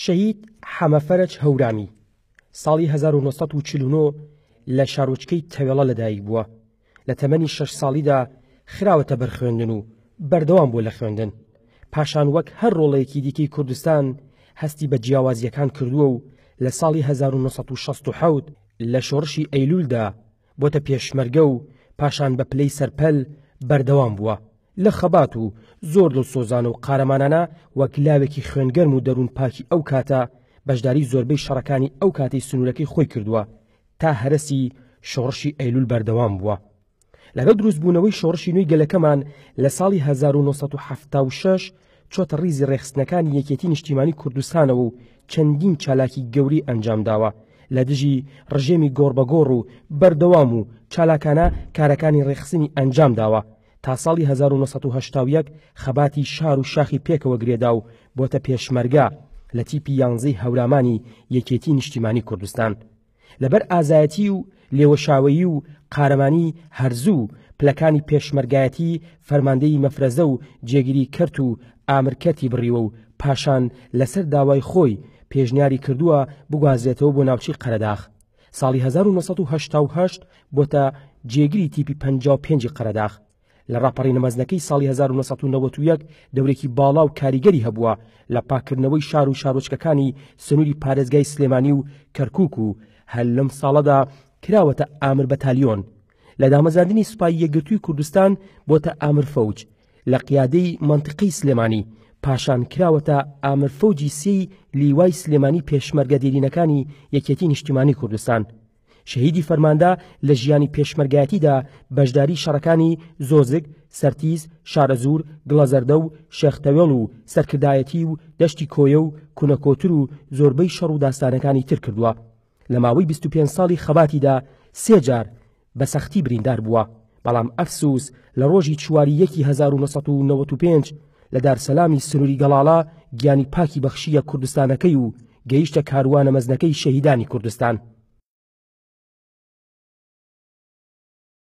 شەهید حەمە فەرەج هەورامی، ساڵی هەزار و نۆ سەد و چل و نۆ لە شارۆچکەی تەوێڵە لەدایک بووە، لە تەمەنی شەش ساڵیدا خراوەتە بەر خوێندن و بەردەوام بووە لە خوێندن، پاشان وەک هەر ڕۆڵەیەکی دیکەی کوردستان هەستی بە جیاوازییەکان کردووە و لە ساڵی هەزار و نۆ سەد و شەست و حەوت لە شۆڕشی ئەیلوولدا بۆتە پێشمەرگە و پاشان بە پلەی سەرپەل بەردەوام بووە لە خەبات و زۆر دڵسۆزانە و قارەمانانە وەک لاوێکی خوێنگەرم و دەروون پاکی ئەو کاتە بەشداری زۆربەی شەڕەکانی ئەو کاتەی سنوورەکەی خۆی کردووە تا هەرەسی شۆڕشی ئەیلول بەردەوام بووە. لەگەڵ دروستبوونەوەی شۆڕشی نوێی گەلەکەمان لە ساڵی هەزار و نۆ سەد و حەفتا و شەش چۆتە ڕیزی ڕێکخستنەکانی یەکێتی نیشتیمانی کوردستانەوە و چەندین چالاکی گەورەی ئەنجامداوە لە دژی ڕژێمی گۆڕبەگۆڕ و بەردەوام و چالاکانە کارەکانی ڕێکخسنی ئەنجامداوە تا ساڵی هەزار و نۆ سەد و هەشتا و یەک خەباتی شار و شاخی پێکەوە گرێدا و بۆتە پێشمەرگە لە تیپی یانزەی هەورامانی یەکێتی نیشتیمانی کوردستان. لەبەر ئازایەتی و لێوەشاوەیی و قارەمانی هەرزوو پلەکانی پێشمەرگایەتی فەرماندەی مەفرەزە و جێگری کەرت و ئامر کەرتی بڕیوە و پاشان لەسەر داوای خۆی پێشنیاری کردووە بگوازرێتەوە بۆ ناوچەی قەرەداخ ساڵی هەزار و نۆ سەد و هەشتا و هەشت بۆتە جێگری تیپی پەنجا و پێنج ی قەرەداخ لە ڕاپەڕینە مەزنەکەی ساڵی هەزار و نۆ سەد و نەوەد و یەک دەورێکی باڵا و کاریگەری هەبووە لە پاککردنەوەی شار و شارۆچکەکانی سنووری پارێزگای سلێمانی و کەرکووک و هەر لەم ساڵەدا کراوەتە ئامر بەتالیۆن لە دامەزاندنی سوپای یەکگرتووی کوردستان بۆتە ئامر فەوج لە قیادەی مەنتقەی سلێمانی پاشان کراوەتە ئامر فەوجی سێی لیوای سلێمانی پێشمەرگە دێرینەکانی یەکێتی نیشتیمانی کوردستان شەهیدی فەرماندە لە ژیانی پێشمەرگایەتیدا بەشداری شەڕەکانی زۆزگ، سەرتیز، شارەزوور، گڵەزەردە و شێخ تەوێڵ و سەرکردایەتی و دەشتی کۆیە و کونەکۆتر و زۆربەی شەڕ و داستانەکانی تر کردووە. لە ماوەی بیست و پێنج ساڵی خەباتیدا سێ جار بە سەختی بریندار بووە. بەڵام ئەفسووس لە ڕۆژی چوار ی یەکی هەزار و نۆ سەد و نەوەد و پێنج لە دارسەلامی سنووری گەڵاڵە گیانی پاکی بەخشییە کوردستانەکەی و گەیشتە کاروانە مەزنەکەی شەهیدانی کوردستان.